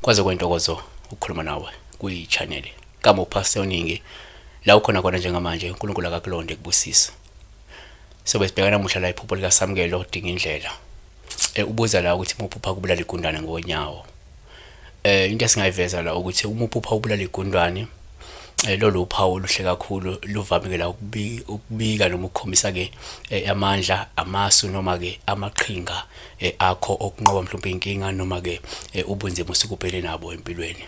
kwaze kwentokozo ukukhuluma nawe kwiyi-channel kamupha seyoningi la ukhona khona njengamanje unkulunkulu akakulonde kubusisa sobe sibhekana muhla la iphupho likasamukelo odinga indlela Eh, ubuza la ukuthi muphupha kubulala igundwane ngonyawo eh into esingayiveza la ukuthi uma uphupha ubulala igundwane eh, lolu uphawu oluhle kakhulu luvamike la ukubika noma ukukhombisa ke eh, amandla amasu noma ke amaqhinga eh, akho okunqoba mhlawumbe inkinga noma ke ubunzima usukubhele nabo empilweni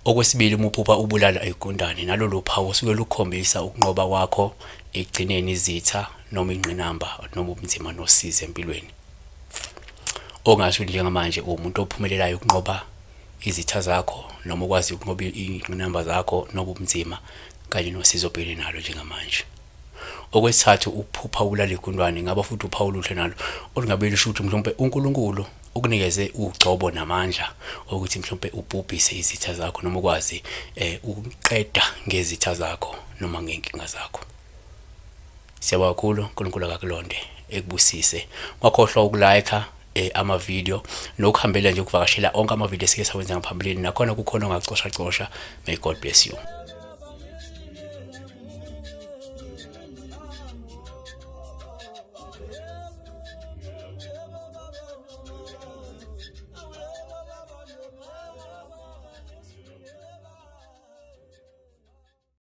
okwesibili uma uphupha ubulala igundane nalolu phawu osuke lukhombisa ukunqoba kwakho ekugcineni izitha noma ingqinamba noma ubunzima nosizi empilweni. Ongasho ukuthi njengamanje uwumuntu ophumelelayo ukunqoba izitha zakho noma ukwazi ukunqoba iy'ngqinamba zakho noba ubunzima kanye nosizo obhekene nalo njengamanje. Okwesithathu ukuphupha ubulala igundwane ngaba futhi uphawu oluhle nalo olungabe lusho ukuthi mhlawumpe uNkulunkulu ukunikeze ugcobo namandla okuthi mhlawumpe ubhubhise izitha zakho noma ukwazi um ukuqeda ngezitha zakho noma ngey'nkinga zakho. Siyabonga kakhulu uNkulunkulu akakulonde ekubusise. Ungakhohlwa ukulike eh, ama video nokuhambela nje ukuvakashela onke ama video esike sawenza ngaphambilini nakhona kukhona ongacosha cosha. May God bless you.